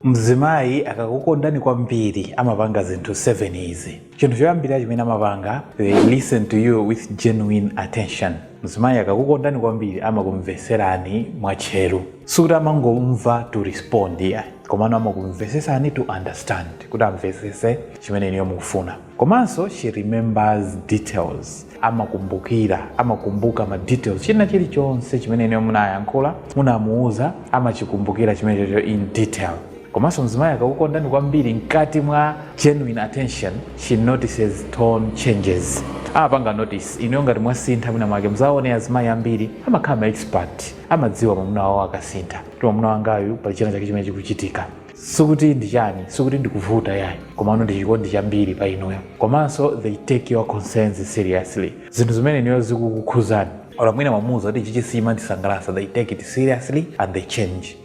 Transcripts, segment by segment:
Mzimayi akakukondani kwambiri amapanga zinthu 7 izi. Chinthu choyambirira chimene amapanga, they listen to you with genuine attention. Mzimayi akakukondani kwambiri amakumvetserani mwatcheru. Sikuti amangomva to respond iyayi, komano amakumvetsetsani to understand, kuti amvetsetse chimene inuyo mukufuna. Komanso she remembers details. amakumbukira amakumbuka ma details china chilichonse chimene inuyo munayankhula munamuuza amachikumbukira chimenecho in detail komanso mzimayi akakukondani kwambiri mkati mwa genuine attention she notices tone changes amapanga notice inuyo ngati mwasintha mwina mwake muzaone azimayi ambiri amakhala ma expert amadziwa mwamuna wawo akasintha kuti mwamuna wangayu pali china chake chimene chikuchitika sikuti ndi chani sikuti ndikuvuta yayi komano ndi chikondi chambiri pa inuyo komanso they take your concerns seriously zinthu zimene inuyo zikukukhuzani or mwina mwamuuza kuti ichichi sichimandisangalatsa they take it seriously and they change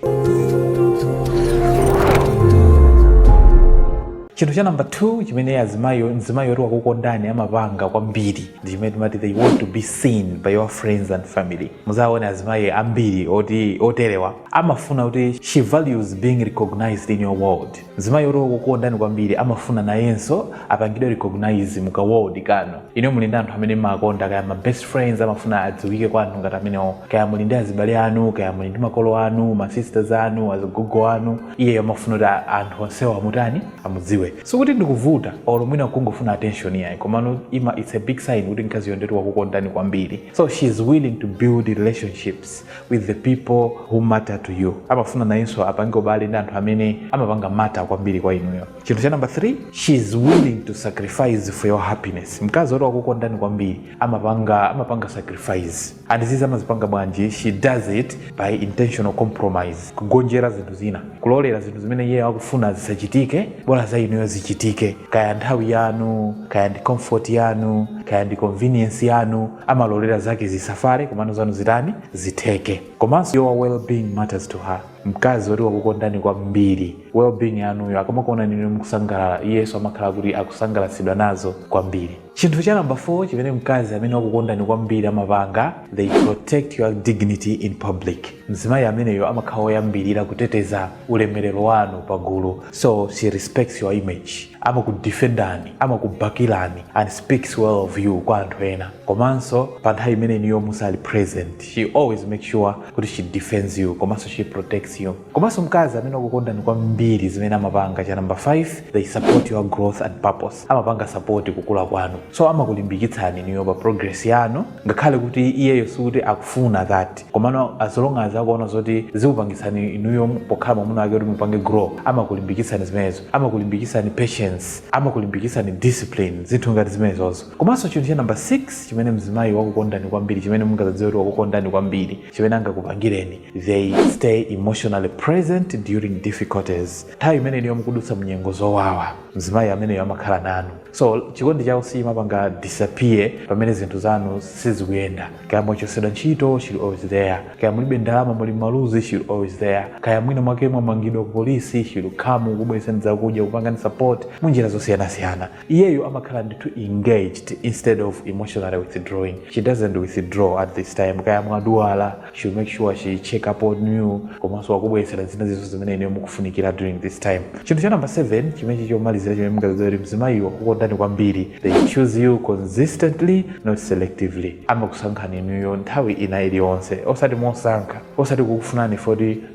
chinthu cha namba 2 chimene azimayi mzimayi oti wakukondani amapanga kwambiri ndi chimene timati they want to be seen by your friends and family muzaone azimayi ambiri oti oterewa amafuna kuti she values being recognized in your world mzimayi oti okukondani kwambiri amafuna nayenso apangidwe recognize mu ka world kanu inu muli ndi anthu amene mumakonda kaya ma best friends amafuna adziwike kwa anthu ngati amenewo kaya muli ndi azibale anu kaya muli ndi makolo anu ma sisters anu azigogo anu iyeyo amafuna kuti a- anthu onsewo amutani amudziwe sikuti ndikuvuta or mwina kungofuna attention yayi komano ima it's a big sign kuti mkaziyo ndetu wakukondani kwambiri so she is willing to build relationships with the people who matter to you amafuna nayenso apange ubale ndi anthu amene amapanga matter kwambiri kwa inuyo chinthu cha namba 3 she is willing to sacrifice for your happiness mkazi woti wakukondani kwambiri amapanga amapanga sacrifice and izizi amazipanga bwanji she does it by intentional compromise kugonjera zinthu zina kulolera zinthu zimene iye akufuna zisachitike bola za inuyo zichitike kaya nthawi yanu kaya ndi comfort yanu kaya ndi convenience yanu amalolera zake zisafale komano zanu zitani zitheke komanso your well-being matters to her mkazi woti wakukondani kwambiri well-being yanuyo akamakuonani inu mukusangalala iyenso amakhala kuti akusangalatsidwa nazo kwambiri chinthu cha namba 4 chimene mkazi amene wakukondani kwambiri amapanga they protect your dignity in public mzimayi ameneyo amakhala woyambirira kuteteza ulemerero wanu pa gulu so she respects your image amakudefendani amakubakirani and speaks well of you kwa anthu ena komanso pa nthawi imene inuyo musali present she always make sure kuti she defends you komanso she protects you komanso mkazi amene wakukondani kwambiri zimene amapanga cha number 5 they support your growth and purpose amapanga support kukula kwanu so amakulimbikitsani inuyo pa progress yanu ngakhale kuti iyeyo sikuti akufuna that komano as long as akuona zoti zikupangitsani inuyo pokhala mwamuna wake kuti mupange grow amakulimbikitsani zimenezo amakulimbikitsani patience amakulimbikitsani discipline zinthu ngati zimenezozo komanso chinthu cha namba 6 chimene mzimayi wakukondani kwambiri chimene mungazadziwe kuti wakukondani kwambiri chimene angakupangireni they stay emotionally present during difficulties nthawi imene inuyo mukudutsa mnyengo zowawa mzimayi ameneyo amakhala nanu so chikondi chawo sichimapanga disappear pamene zinthu zanu sizikuyenda kaya mwachosedwa ntchito she always there kaya mulibe ndalama muli maluzi she always there kaya mwina mwake mwamangidwa ku polisi she will come kukubweretserani zakudya kupangani support munjira zosiyanasiyana iyeyo amakhala ndithu engaged instead of emotionally withdrawing she doesn't withdraw at this time kaya mwadwala she will make sure she check up on you komanso akubweretserani zinthu zizo zimene inuyo mukufunikira during this time chinthu cha number 7 chimene chomalizira chimene mungazadziwe kuti mzimayi wakukondani kwambiri they choose you consistently not selectively amakusankhani inuyo nthawi ina iliyonse osati mosankha osati kukufunani if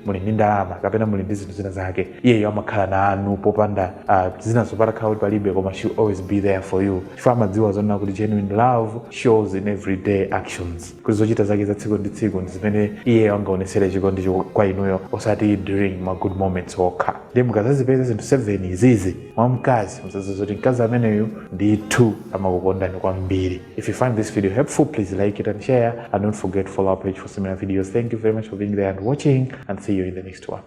muli ndi ndalama kapena muli ndi zinthu zina zake iyeyo amakhala nanu popanda uh, zina zopatsa kukhala kuti palibe koma she always be there for you chifukwa amadziwa zonena kuti genuine love shows in everyday actions kuti zochita zake za tsiku ndi tsiku ndi zimene iyeyo angaonesere chikondicho kwa inuyo osati during ma good moments okha ndiye mukazazipeza zinthu 7 izizi mwa mkazi mzazi zoti mkazi ameneyu ndithu amakukondani kwambiri if you find this video helpful please like it and share and don't forget to follow our page for similar videos thank you very much for being there and watching and see you in the next one